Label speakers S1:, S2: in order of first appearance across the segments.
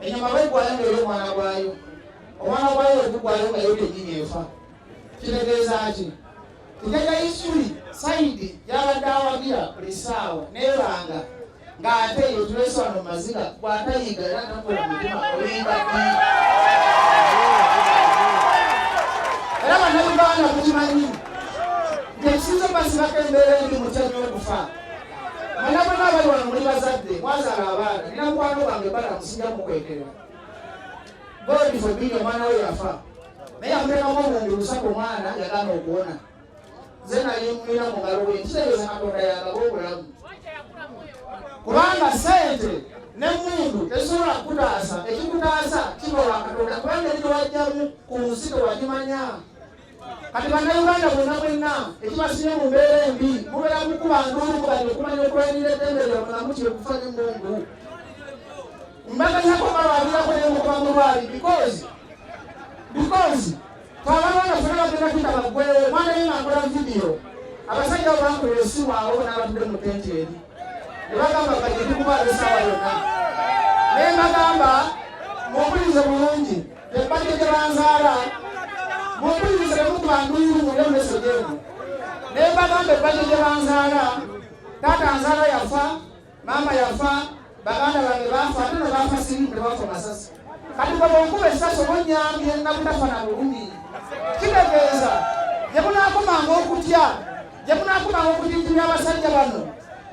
S1: enyama baigwayo nga eri omwana gwayo omwana gwayo wegugwayo nga yo kenyini efa kitegeeza ki tugenda isuli saidi yabadde awagira buli saawa nebanga ng'ate eyo tulese wano mu maziga bw'atayiga era takola mutima olinga era bannayuganda mukimanyi nti ekisinza omasibako embeera endi mutya nyo okufa Mwana mwana abali wano muli bazadde mwazaala abaana nina mukwano gwange bana musijja mukwekerera God forbid omwana we yafa naye amuteekamu obuwumbi busatu omwana yagana okuwona nze nali mulina mu ngalo bwe kitegeeza katonda yagaba obulamu kubanga sente nemundu tesobola kukutaasa ekikutaasa kiba wa katonda kubanga eri tewajjamu ku nsi tewakimanya kati bannayuganda bonna bwenna ekibasibye mu mbeera embi mubeera mukuba nduulu kubali okumanya okulwanira eddembe lya mulamu kyekufa ne mungu mbaganyako balwabirako ne mukuba mulwali because because twabalwana fena bagenda kuita bagwewo omwana ye ngakola vidiyo abasajja abo bakola esimu awo n'abatudde mu tenti eri ne bagamba bagende kuba abesawa yonna ne mbagamba muwulirize bulungi Ebbajjo gye banzaala mumpulirize ne mukuba nduyulu mulya mmeso gyemu ne mbagamba ebbajjo gye banzaala taata nzaala yafa maama yafa baganda bange baafa ate ne baafa sirimu ne bafa masasi kati bwe bwenkuba essasi oba onnyambye nga butafa na bulumi kitegeeza gye munaakomanga okutya gye munaakomanga okutijjumya abasajja bano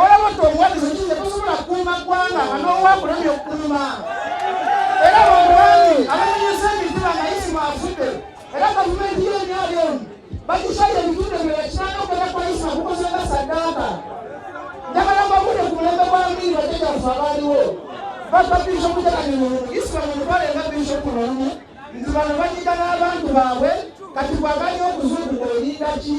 S1: olaba nti obuwagizi okize tosobola kukuuma ggwanga nga n'owakulemye okukuuma era bamwanyi abanyonyesa emitima nga isimu afudde era gavumenti y'emyali emu bakishaye ebitundu ebyo yakiranga okwera kwa isimu kukoze nga saddaaka njagala mbabude ku mulembe gwa mbiiri bajjajaffe abaaliwo bava bishopu jaganyonyolu isimu mutwale nga bishopu nolumu nti bano banyiga n'abantu baabwe kati bwaganya okuzungu olinda ki